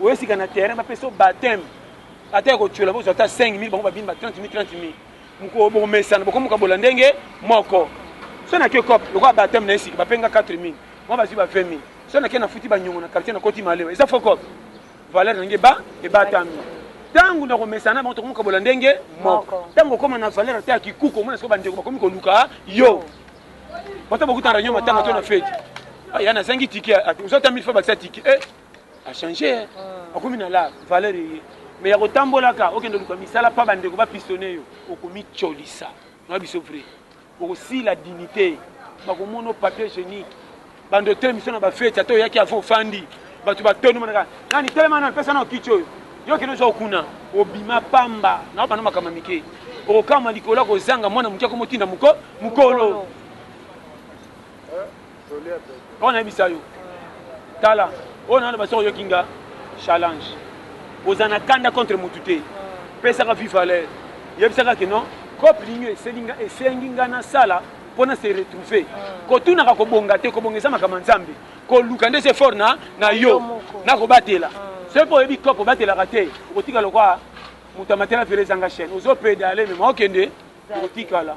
oye sika na terrain bapesa yo bateme ata ya kotyola bozwa ata 5000 bango babini ba 30 000 30 000 mokolo bokomesana bokomokabola ndenge moko so nake cop lokola bateme na ye sika bapenga 4 000 mwa bazwi ba 20 000 so nake nafuti banyongo na quartier nakoti malewa eza fo cop valeur nange ba ebatami ntango na komesana bango tokomokabola ndenge moko ntango okoma na valeur ata ya kikuku omona siko bandeko bakomi koluka yo bata bokuta na reunion matanga to na feti ah, ya nazangi tike ozwa ata 1000 fois bakisa tike eh, A changer hein. Ah. Akomi na la valeur eye. Mais ya kotambola ka okende luka misala pa bandeko ba pistonner yo okomicolisa. Na biso vrai. Okosila dignité. Bakomona yo papier hygienique. Bando otelemi biso na ba fete ata oyaki avant ofandi. Bato batondi monaka nani telema nani pesa nao kiti oyo. Yo kende ozwa okuna obima pamba na bana makambo mike. Okokama likolo ya kozanga mwana moke akomotinda moko mokolo. Pona yebisa yo. Tala, oyo naloba soki oyoki nga challenge. Oza na kanda contre mutu te. Pesaka vie valeur. Yebisaka que non, coop lingi eseli nga esengi nga na sala mpo na se retrouver kotunaka kobonga te kobonga eza makambo ya nzambe koluka nde se fort na na yo na kobatela soki mpo oyebi coop obatelaka te okotika lokwa moto amatela velo ezanga chaîne ozopedale mema okende okotikala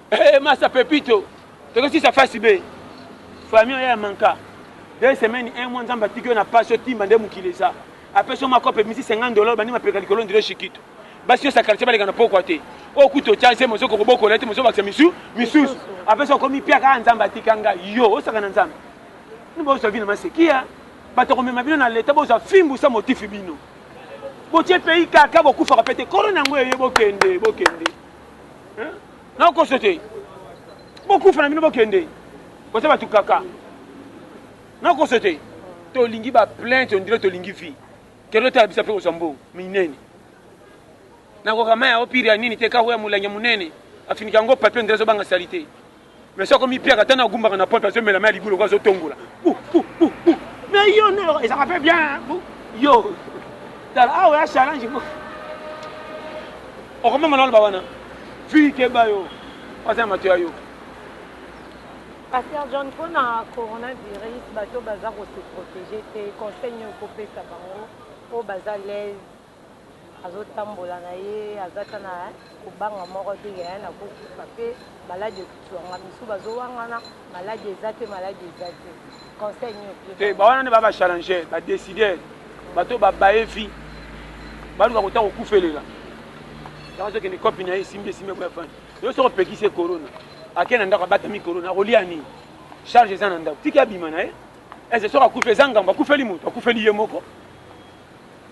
Hey, eh, masa pepito tokosisa fasi be famille oyo ya manka deux semaines un mois nzambe atiki yo na pasi otimba nde mokili eza apesi yo makope misi 50 dollars bandi mapeka likolo ndire shikito basi nyonso ya quartier baleka na pokwa te oyo kutu otya nzembo ozoki kobokola te mozobakisa misu misusu apesi okomi piaka a ah, nzambe atika ngai yo osaka na nzambe nibozwa vino masekia bato komema bino na leta bozwa fimbusa motifi bino botie pays kaka bokufaka pe te korona yango eye bokende bokende nakoso te bokufa na bino bokende boza bato kaka nakoso te tolingi baplainte ondire tolingi vie kende otala bisa mpe kozwa mbongo minene nakoka mai ya opiri ya nini te kako ya molangi ya monene afinika yango papie ondire azobanga salite Monsieur akomi piaka tana agumbaka na porte azo mela mai libulu ko azo tongola. Bou bou bou bou. Mais yo ne eza ka pe bien. Bou. Yo. Tala awa ya challenge mo. Okoma manalo ba wana. Fille ke ba yo. Asa mato ya yo. Pasteur John pona coronavirus bato baza ko se protéger te conseil nyo ko pesa bango po baza l'aise Azo tambola na ye aza ata na kobanga moko te que hein nako kufa pe malade ekozua nga misusu bazo wangana malade eza te malade eza te conseil nini opesi bango? Te ba wana nde ba ba challengeurs ba decideurs bato oyo ba baye vie baluka kota kokufelela yango azo kende coop na ye esimbi esimbi eko avandi yo soki opekisi ye corona ake na ndako abatami corona akolia nini charge eza na ndako tiki abima na ye ese soki akufi eza ngambo akufeli moto akufeli ye moko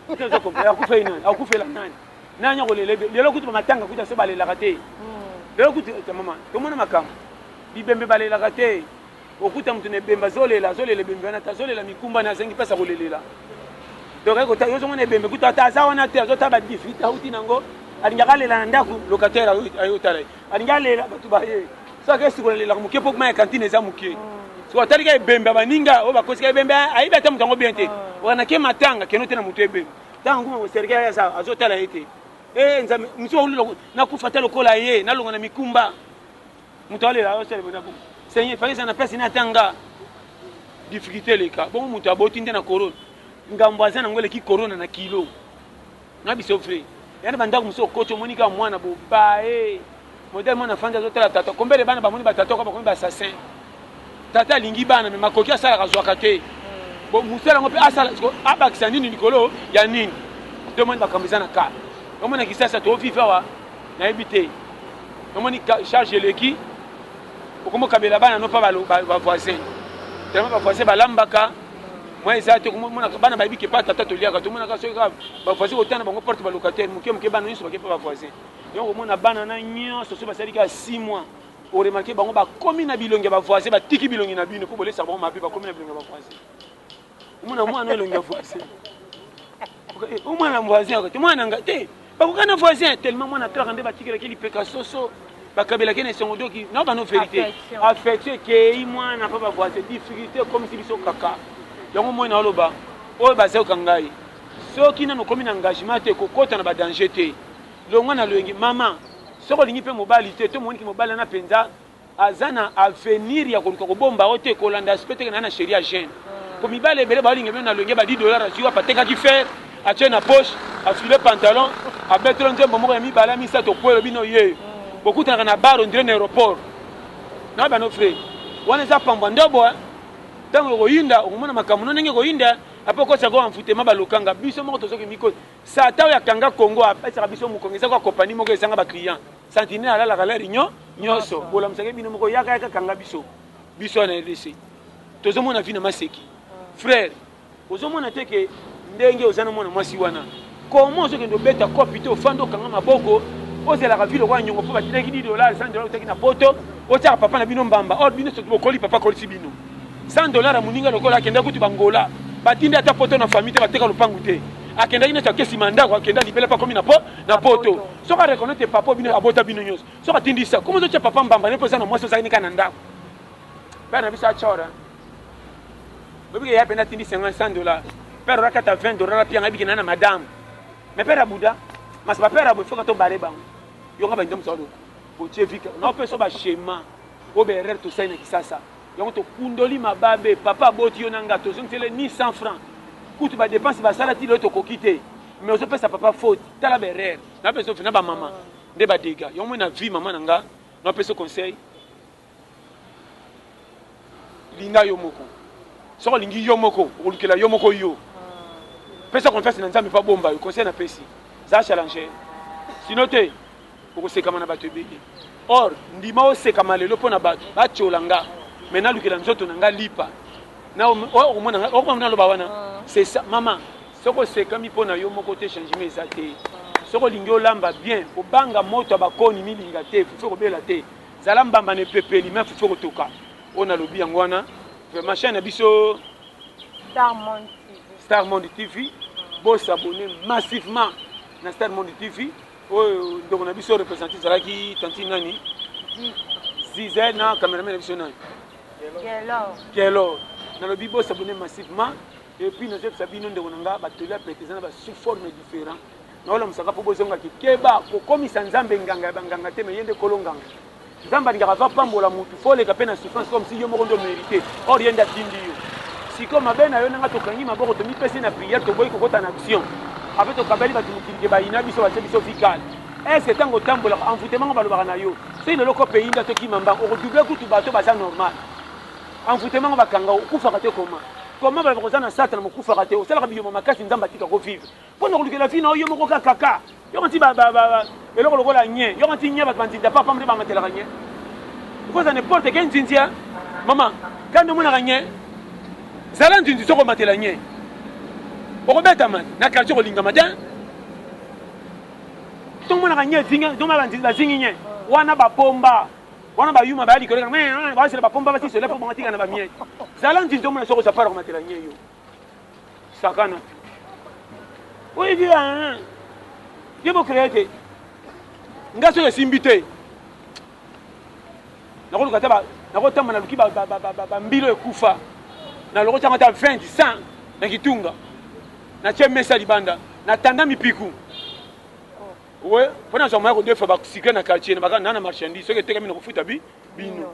Kutu nazo comprendre akufa ye nani akufela nani nani akolela ye lelo kutu ba matanga kutu aso balelaka te lelo kutu ta mama tomona makambo bibembe balelaka te okuta moto na ebembe azolela azolela ebembe wana te azolela mikumba na azangi mpasi akolelela donc aye kotala ozomona ebembe kutu ata aza wana te azotala badifrite auti nango alingaka alela na ndako locataire aye otala ye Alingi alela bato baye. Soki akei sikola lelaka moke mpo mai ya kantine eza moke. Sikoyo atali ka ebembe ya baninga oyo bakosika ebembe ayebi ata moto yango bien te. Wana ke matanga keno te na moto ebembe. Ntango akoma koserke ye aza azotala ye te. Ee Nzambe mosusu bakolula nakufa ata lokola ye nalonga na mikumba. Moto alela aosala ebonda bongo. Seigneur fallait eza na place na ata nga. Difficulté eleka. Bongo moto aboti nde na corona. Ngambo aza nango eleki corona na kilo. Na biso vrai ya na ba ndaku mosusu okoti omoni kaka mwana bobae modèle mwana afandi azo tala tata combien de bana bamoni ba tata bakomi ba assassin tata alingi bana mais makoki asalaka azwaka te bon musala yango mpe asala siko abakisa nini likolo ya nini nde omoni makambo eza na ka omoni na kisasa to vive awa nayebi te omoni charge eleki okomi okabela bana no mpa bavoisin tellement bavoisin balambaka Moi eza te komona bana bayebi ke pa tata toliaka tomonaka soki kaka bavoisin kotana bango porte balocataire moke moke bana nyonso bake mpe bavoisin yango komona bana na nyonso soki basali kaka 6 mois oremarke bango bakomi na bilongi ya bavoisin batiki bilongi na bino mpo bolesa bango mabe bakomi na bilongi ya bavoisin omona mwana elongi ya voisin o mwana voisin oyo te mwana nga te bakoka na voisin tellement mwana clara nde batikelaki lipeka soso bakabelaki na esongo doki na bano verité affection ekei mwana mpa bavoisin difficulté ekomisi biso kaka yango moi naoloba oyo bazayoka ngai soki nano okomi na engagement te kokota na badanger te longwa na loyenge mama soki olingi mpe mobali te to moniki mobali wana mpenza aza na avenir ya koluka kobomba yango te kolanda aspect teke na ye na cherie ya jeune po mibali ebele baolinga bino na loyenge ba 10 dollars azwi wapi atekaki fer atie na poche afile pantalon abetelo nzembo moko ya mibale ya misato okwelo bino yeyo bokutanaka na bar ondire na aeroport na bano fre wana eza pambwa ndobo eh. ntango ekoyinda okomona makambo no ndenge ekoyinda eh. apo okosa ko envoutema balokanga biso moko tozoki miko sata oyo akanga congo apesaka biso mokongo eza kwa kopani moko ezanga baclient Santine alalaka lari nyo nyoso bolamusaka ye bino moko yaka yaka kanga biso biso wana rdc tozomona vi na maseki frère ozomona te ke ndenge oza na mwana mwasi wana koma ozokende obeta kopi te ofandi okanga maboko ozalaka vi lokola nyongo mpo batindaki di dolar 100 dolar otaki na poto otyaka papa na bino mbamba or bino soki bokoli papa akolisi bino 100 dolar ya moninga lokola akenda kutu bangola batindi ata poto na famille te bateka lopangu te akendaki neti akesima ndako akenda libela mpo akomi na poto Soki a reconnaitre que papa obino abota bino nionso soki atindi sa comment ozotia papa mbamba naye po oza na mwasi ozalaki kaka na ndako père na biso achor hein oyebi ke ya pena atindi 50 100 dollars père ola kata 20 dollars pia ngai bikena na madame mais père abuda mas ba père abo foka to bare bango yo nga bande msalo botie vika na opeso ba schéma o be erreur to saina kisasa yango to kundoli mababe papa aboti yo na nga tozongitele ni 100 francs kutu ba dépense basala ti lelo tokoki te mais ozopesa papa faute tala ba erreur na bezo fina ba mama nde ba dega yo moi na vie mama na nga na peso conseil linga yo moko soko lingi yo moko okolukela yo moko yo pesa confiance na nzambe pa bomba yo conseil na pesi za challenge sino te Okosekama na bato ebele. Or, ndima osekama lelo mpo na bato batiola nga, mais nalukela nzoto na nga lipa. Na okomona nga, okomona naloba wana. Ah. C'est ça, mama. Soki osekami mpo na yo moko te, changement eza te. Soki olingi olamba bien, kobanga moto ya bakoni milinga te, fufu ekobela te. Zala mbamba na epepeli, mais fufu ekotoka. Oyo nalobi yango wana. Vraiment, chaîne na biso. Star Monde TV. Star Monde TV. Bo s'abonner massivement na Star Monde TV. Oyo ndeko na biso represente ezalaki tantine nani zize na cameraman na biso nani kelor nalobi bosabone massivement epuis nazoyebisa bino ndeko na nga batoli ya pete eza na basous forme différent naolamusaka mpo bozongaki keba kokomisa nzambe nganga ya banganga te me ye nde kolo nganga Nzambe alingaka va pambola mutu faut oleka pe na souffrance comme si yo moko nde omerite or ye nde atindi yo siko mabe na yo nanga tokangi maboko tomipesi na prière toboyi kokota na action ape tokabeli bato mokili ke bayina biso batie biso vie kale est-ce que ntango otambolaka envoûtement ngo balobaka na yo soki lelo kope eyindi atokima mbango okodouble kutu bato baza normal envoûtement ngo bakanga okufaka te koma koma baloba koza na satana mokufaka te osalaka biyoma makasi nzambe atikako vivre Mpo na kolukela vie na yo yo moko kaka kaka. Yoko nti ba ba ba eloko lokola nye. Yoko nti nye bato ba nzinza papa mde bangatelaka nye. Okoza n'importe quel nzinzi hein maman. Kaka nde omonaka nye. Zala nzinzi soki omatela nye. Okobetama na quartier okolingama te. Soki omonaka nye ezinga, nzoma ba nzinzi bazingi nye. Wana ba pomba. Wana ba yuma ba yali koleka. Basela ba pomba basi sola mpo bango tika na ba mie. Zala nzinzi omona soki oza pare komatela nye yo. sakana oyebi hein ye bo créer te nga soki esimbi te nakoluka ata nakotamba naluki bambilo ekufa naloko ntango ata 20 100 na kitunga natye mesa libanda natanda mipiku we mpo nazwa moya kodefa basikle na quartier na bakana na marchandise soki etekami na kofuta bi bino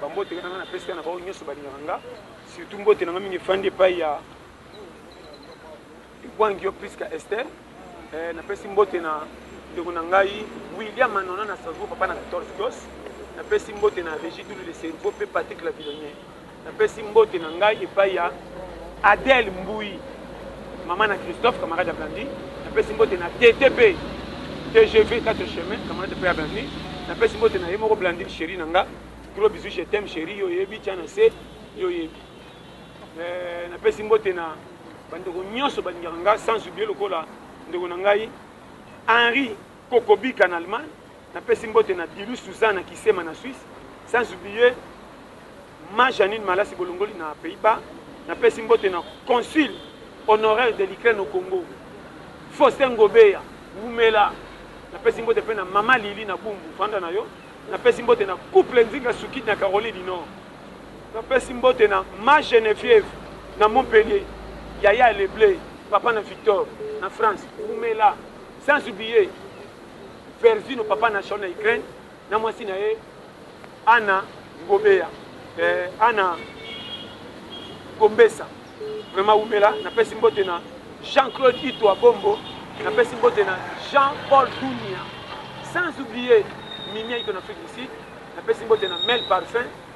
Ba mbote nanga na pesi na ba oyo nyoso balingaka nga surtout mbote nanga mingi efandi epai ya Wangio Prisca Esther eh, na pesi mbote na ndeko na ngai William Manona na Strasbourg papa na 14 gos na pesi mbote na Régis Doulou de Cerveau pe Patrick Lavilonnier na pesi mbote na ngai epai ya Adèle Mbuyi, mama na Christophe, camarade ya Blandine, napesi mbote na Thethe mpe tgv 4 chemins, camarade mpe ya Blandine, napesi mbote na ye moko Blandine cherie na nga, gros bisous je t'aime cherie, yo oyebi, tya na se, yo oyebi. Eh, napesi mbote na bandeko nyonso balingaka nga sans oublier lokola ndeko na ngai Henri Kokobika na Allemagne. Napesi mbote na Dilu, Suzanne na Kisema na Suisse, sans oublier Ma Jeanine Malasi Bolongoli na Pays-Bas. Napesi mbote na Consul honoraire de l'Ukraine au Congo, Faustin Ngobeya, wumela. Napesi mbote mpe na Mama Lili na Bumbu, vanda na yo. Napesi mbote na Couple Nzinga Sukidi na Caroline du Nord. Napesi mbote na Ma Geneviève na Montpellier, Yaya Leble, Papa na Victor na France, wumela. Sans oublier Vervino papa na Sharon na Ukraine na mwasi na ye Anna Ngobeya eh, Anna Gombesa vraiment wumela napesi mbote na Jean-Claude Itwa Bombo napesi mbote na Jean-Paul Dunia sans oublier Mimia Ito na Afrique du Sud napesi mbote na Mel Parfum